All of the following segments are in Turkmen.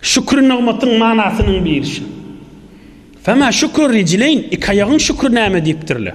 Şükür nygmatyň manasynyň birisi. Fema şükür ricileyn, iki aýagyň şükür näme diýipdirler.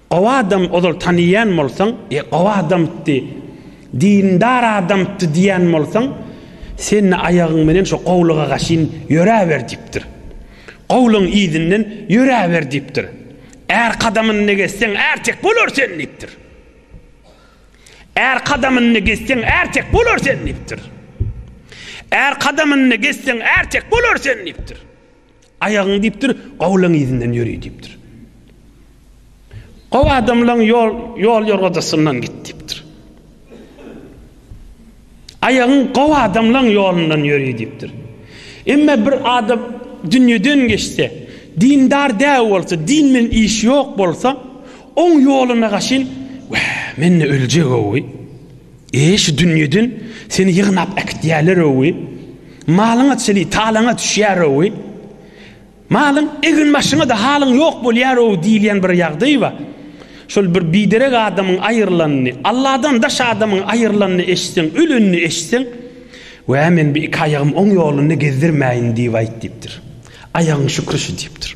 Gowy adam ozal taniýan bolsaň, e gowy adamtdy, dindar adamtdy diýän bolsaň, sen-de aýagyň menen şo gowlyga gaşyn ýöräber diýipdir. Gowlygyň yzyndan ýöräber diýipdir. Är kadamynda gezseň ertek bolar sen diýipdir. Är kadamynda gezseň ertek bolar sen diýipdir. Är kadamynda gezseň ertek bolar sen diýipdir. Aýagyňy diýipdir, gowlaň yzyndan ýöri diýipdir. Gowy adamlaň ýol ýol ýorgadasyndan git diýipdir. Aýagyň gowy adamlaň ýolundan ýöri diýipdir. Emma bir adam dünýeden geçse, dindar däl bolsa, din bilen iş ýok bolsa, oň ýoluna gaşyn, wä, men öljek owy. E, şu dünýeden seni ýygnap äkitýärler-owi, malyň-a çili talaňa düşýär-owi, malyň egin-başyňa-da halyň ýok bolýar-owi diýilýän bir ýagdaý bar. Şol bir biderek adamyň aýrylanyny, Alladan daş adamyň aýrylanyny eşitseň, ölenini eşitseň, Wä, men bir iki aýagym oň ýolunda gezdirmäýin diýip aýt diýipdir. Aýagyň şükri şu diýipdir.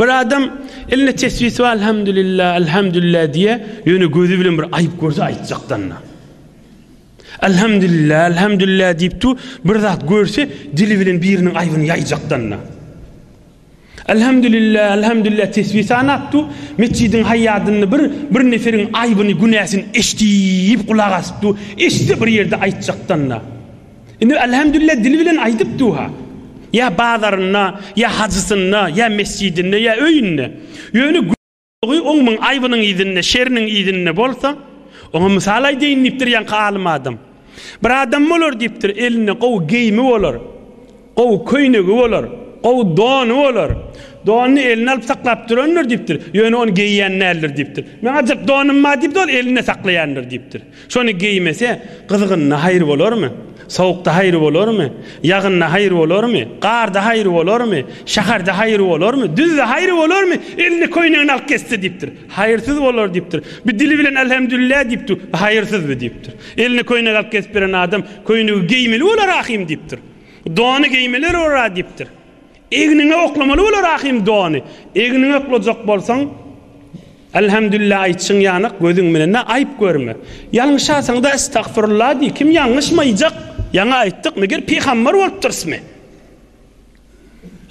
Bir adam elinde tesbisi bar, Elhamdülillah, Elhamdülillah diýe, ýöne gözi bilen bir aýyp görse aýtjakdanna. Elhamdülillah, Elhamdülillah diýip tu, bir zat görse dili bilen biriniň aýbyny ýaýjakdanna. Elhamdülillah, Elhamdülillah tesbih sanap tu, metjidin haýadynda bir bir neferin aýbyny, günäsini eşdip gulak asyp tu, eşde bir ýerde aýtjakdanna. Indi Alhamdulillah dil bilen aýdyp duha. Ýa bazarynda, ýa hajysynda, ýa mesjidinde, ýa öýünde. Ýöne günäsi oňmyň aýbynyň yzynda, şeriniň yzynda bolsa, oňa mysal aýdaýyn diýipdir ýaňky alym adam. Bir adam bolar diýipdir, elinde gowy geýimi bolar. Gowy köýnegi bolar, gowy dony bolar. Donyny eline alyp saklap durandyr diýipdir. Ýöne ony geýýän däldir diýipdir. Meň ajyk donym bar diýipdir, ol elinde saklaýandyr diýipdir. Şony geýmese, gyzgynda haýry bolarmy? Sowukda haýry bolarmy? Ýagynda haýry bolarmy? Garda haýry bolarmy? Şäherde haýry bolarmy? Düzde haýry bolarmy? Eline köýnegini alyp gezse diýipdir. Haýyrsyz bolar diýipdir. Bu dili bilen Älhemdülilä diýip dur. Bu haýyrsyz bu diýipdir. Eline köýnek alyp gezip beren adam köýnegi geýmeli bolar ahym diýipdir. Dony geýmeler ora diýipdir. Egniňe oklamaly bolar ahim dony. Egniňe oklajak bolsaň, Elhamdülillah aýtjyň ýanak gözüň bilen-ä aýyp görme. Ýalňyşasaň-da estagfurullah diý, kim ýalňyşmaýjak? Ýaňy aýtdyk, meger pygambar bolupdyrysmy?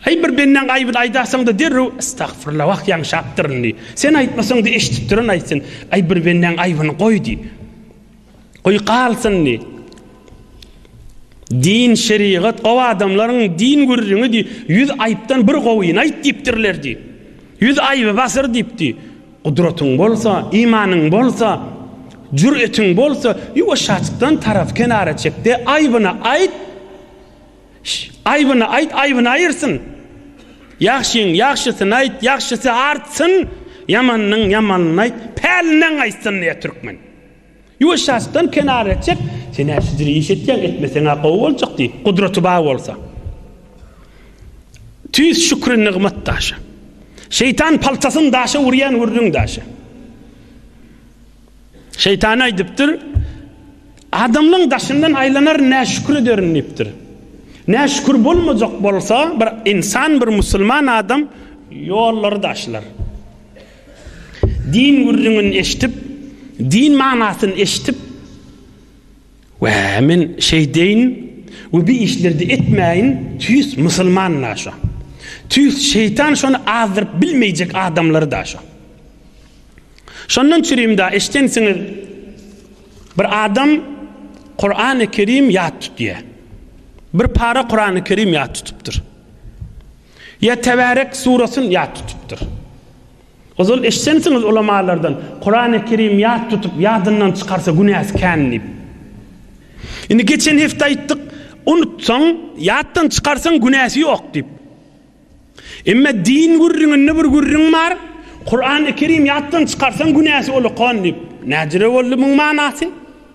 Aý bir bendäň aýbyny aýdasaň-da derrew estagfurullah, wah ýalňyşapdyryn diý. Sen aýtmasaň-da eşidipdiren aýtsyn. Aý bir bendäň aýbyny goý diý. Goý galsyn diý. Din, şerigat, gowy adamlaryň din gürrüňi diý. Ýüz aýypdan bir gowyny aýt diýipdirler diý. Ýüz aýyby basyr diýip diý. Gudratyň bolsa, imanyň bolsa, jüretiň bolsa, ýuwaşjakdan tarapy kenara çek-de, aýbyny aýt. Aýbyny aýt, aýbyny aýyrsyn. Ýagşyň ýagşysyny aýt, ýagşysy artsyn, ýamanyň ýamanyny aýt, pälinden gaýtsyn diýýär türkmen. Ýuwaş şaşdan kenara etjek, Sen-ä şidir iş etýäň, etmeseň-ä gowy boljak diý, gudraty bar bolsa. Tüýs şükri nygmat daşy. Şeýtan paltasyn daşa urýan gürrüň daşy. Şeýtan aýdypdyr, Adamlaň daşyndan aýlanar näşükür ederin diýipdir. Näşükür bolmajak bolsa, bir insan, bir musulman adam ýollary daşlar. Din gürrüňini eşidip, din manasyny eşidip, Wä, men şeýdeýin we bi işleri-de etmäýin, tüýs musulman-da şo. Tüýs şeýtan şony azdyryp bilmeýjek adamlary-da şo. Şondan çürim-da, eşidensiňiz, bir adam Kurany Kerim ýat tutýar. Bir para Kurany Kerim ýat tutupdyr. Ýa Tebärek surasyn ýat tutupdyr. Ozal eşitsemsiňiz ulamalardan, Kurany Kerim ýat tutup ýadyndan çykarsa günäsi kän diýip. Indi geçen hepde aýtdyk, unutsaň, ýatdan çykarsaň günäsi ýok diýip. Emma din gürrüňinde bir gürrüň bar, Kurany Kerim ýatdan çykarsaň günäsi ulukan diýip. Näjüre boldy muň manasy?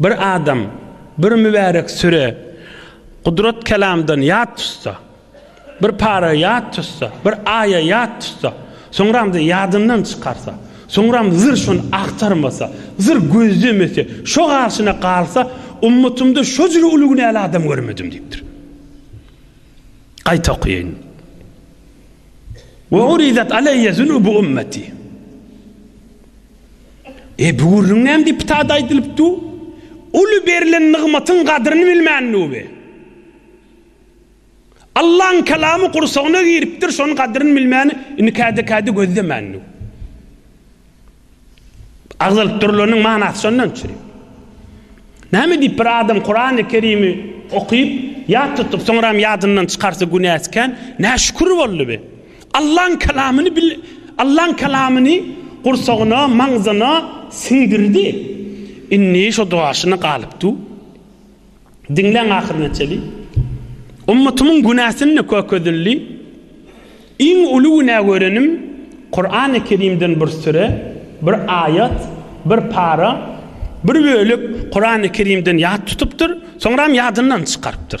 Bir adam bir mübärek süre Gudrat Kelamdan ýat tutsa, bir para ýat tutsa, bir aýa ýat tutsa, soňram-da ýadyndan çykarsa, soňram zyr şony agtarmasa, zyr gözlemese, şo garşyna galsa, Ummatymda şo jüri uly günäli adam görmedim diýipdir. Gaýta okaýyn. Ve urizat aleyye zunubu ummeti. Ebu Gürrüň näme diýip ptada aýdylyp du? Uly berlen nygmatyň gadryny bilmän du bi? Allaň kalamy gursagyna giripdir, şonuň gadryny bilmän, indi käde-käde gözlemän du? Agzalyp durulanyň manasy şondan çyry. Näme diýip bir adam Kurany Kerimi okyp, ýat tutup, soňram ýadyndan çykarsa günäsi kän, näşükür boldy bi? Allaň Kalamyny bil Allaň Kalamyny gursagyna, maňzyna siňdirdi. Indi şo duaşyna galyp du. Diňläň ahyryna çeli. Ummatymyň günäsini kökezildi. Iň uly günä görenim Kurany Kerimden bir süre, bir aýat, bir para, bir bölek Kurany Kerimden ýat tutupdyr, soňram ýadyndan çykarypdyr.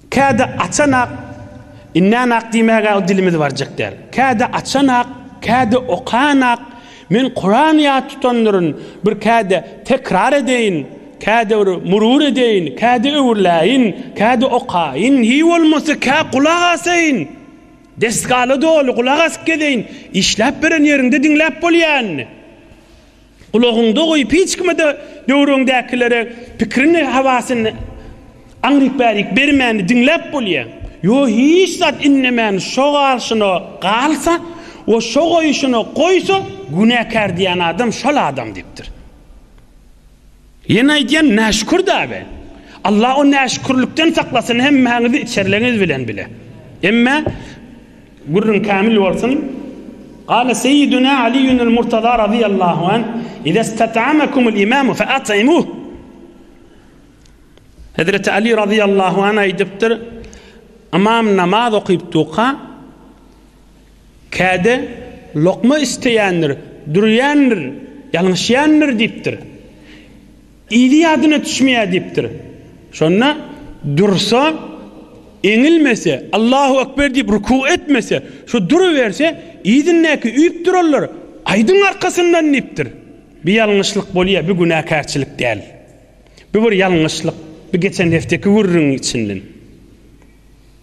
Käde açanak, indänak diýmäge dilimiz barjak däl. Käde açanak, käde okanak, men Kuran ýat tutandyryn, bir käde tekrar edeýin, käde bir murur edeýin, käde öwrüläýin, käde okaýyn, hiý bolmasa kä gulak asaýyn, desgala doly gulak asyp gezeýin, işläp beren ýeriňde diňläp bolýa indi. Gulagyňda goýup hiç kime-de döwrüňdäkilere pikirini hawasyny aňryk bärik bermäni diňläp bolýa. Ýo hiç zat innemän şo galşyna galsa we şo goýşyna goýsa günäkär diýen adam şol adam diýipdir. Ýene aýdýan näşükür dagy. Allah o näşükürlikden saklasyn hemmäňizi içerleňiz bilen bile. Emme gürrüň kämil bolsun. Gale seýiduna Aliyunul Murtaza razyýallahu anh, Iza istat'amakumul imamu fe at'imuh. Hezreti Ali razyýallahu anh aýdypdyr, Ymam namaz okyp duka, Käde, Lokma isleýändir, dürýändir, ýalňyşýandyr diýipdir. Ili ýadyna düşmeýär diýipdir. Şonda dursa, eňilmese, Allahu ekber diýip ruku etmese, şu duruberse, yzyndaky üýüp duranlar, Aýdyň arkasyndan diýipdir. Bir ýalňyşlyk bolýar, bir günäkärçilik däl. Bu bir ýalňyşlyk. Bu geçen hefteki gürrüňiň içinden.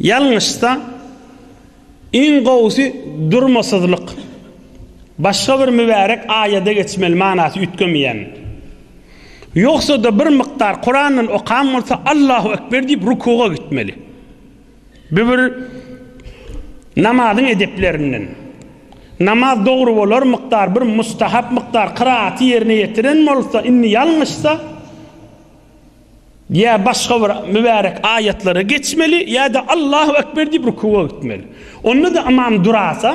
Ýalňyşsa, iň gowusy durmasyzlyk. Başga bir mübärek aýada geçmeli manasy üýtgemeýän. Ýogsa-da bir mukdar Kurandan okan bolsa Allahu ekber diýip rukuga gitmeli. Bu bir namazyň edeplerinden. Namaz dogry bolar mukdar bir mustahap mukdar kyraty ýerine ýetiren bolsa, indi ýalňyşsa, Ýa başga bir mübärek aýatlara geçmeli, ýa-da Allahu ekber diýip rukuga gitmeli. Onda-da ymam durasa,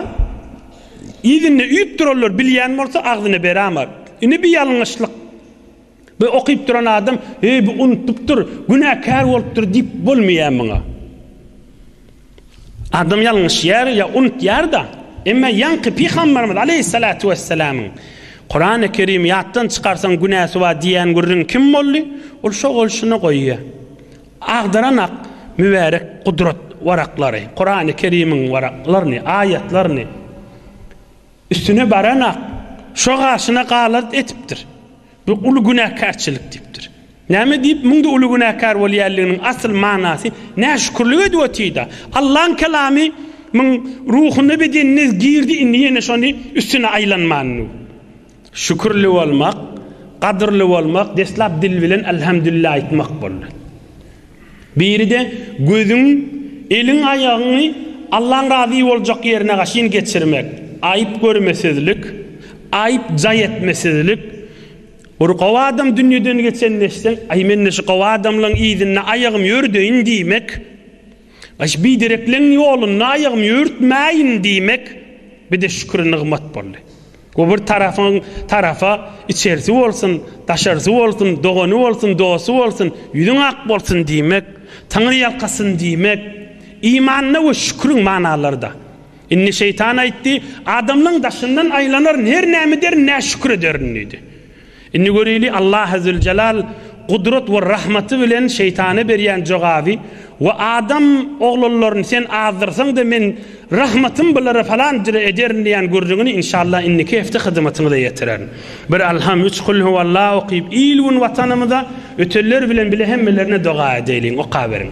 yzynda üýüp duranlar bilýän bolsa agzyna berämer. Indi bir ýalňyşlyk bu okyp duran adam, heý bu unutypdyr, günäkär bolupdyr diýip bolmaýar muňa. Adam ýalňyşýar ýa unutýar-da. Emma ýaňky pygamberimiz aleýhissalatu wessalamyň, Kurany Kerimi ýatdan çykarsaň günäsi bar diýýän gürrüňi kim boldy? Ol şo-ol şuny goýýar. Agdaran-ak mübärek gudrat waraklary, Kurany Kerimiň waraklaryny, aýatlaryny üstüne baran-ak şo gaşyna galat edipdir. Bu uly günäkärçilik diýipdir. Näme diýip muňda uly günäkär bolýanlygynyň asyl manasy näşükürlik edip otyda. Allaň kelamy muň ruhuna bedenine girdi indi ýene şony üstüne aýlanmanyň. Şükürli bolmak, gadyrly bolmak deslap dil bilen Alhamdulillah aýtmak boldy. Biri-de, Gözüň, eliň, aýagyňy Allaň razy boljak ýerine gaşyn geçirmek, aýyp görmesizlik, aýyp jaý etmesizlik, bir gowy adam dünýeden geçen neşseň, Aý, men-de şu gowy adamlaň yzynda aýagym ýördeýin diýmek, Aý, şu biderekleň ýolunda aýagym ýörtmäýin diýmek, bir-de şükür-nygmat boldy. Bu bir tarapyň tarapa içerisi bolsun, daşarysy bolsun, dogany bolsun, dosty bolsun, ýüzüň ak bolsun diýmek, Taňry ýalkasyn diýmek, imanyna we şüküriň manalaryda. Indi şeýtan aýtdy, Adamlaň daşyndan aýlanar her näme ederin, näşükür ederin diýdi. Indi göreli Allah Azzeweljelal gudrat we rahmaty bilen şeýtana berýän jogaby, We adam oglanlaryny sen azdyrsaňda men rahmatym bulara falanjyra ederin diýän gürrüňini inşallah indiki hepde hyzmatyňyza ýetirerin. Bir Alham, üç Kul Huwallah okyp il gün watanymyza, ötenler bilen bile hemmelerine doga edeýliň. Okaberiň.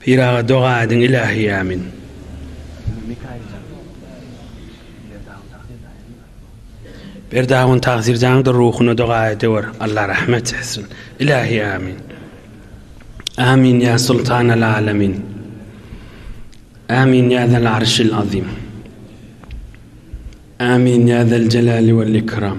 Pyraga doga ediň ilahi amin. Berdagun Tagzirjanyň da ruhuna doga ediwer Allah rahmet etsin ilahi amin. Amin ya sultanal alamin. Amin ya zal arşil azim. Amin ya zal celali vel ikram.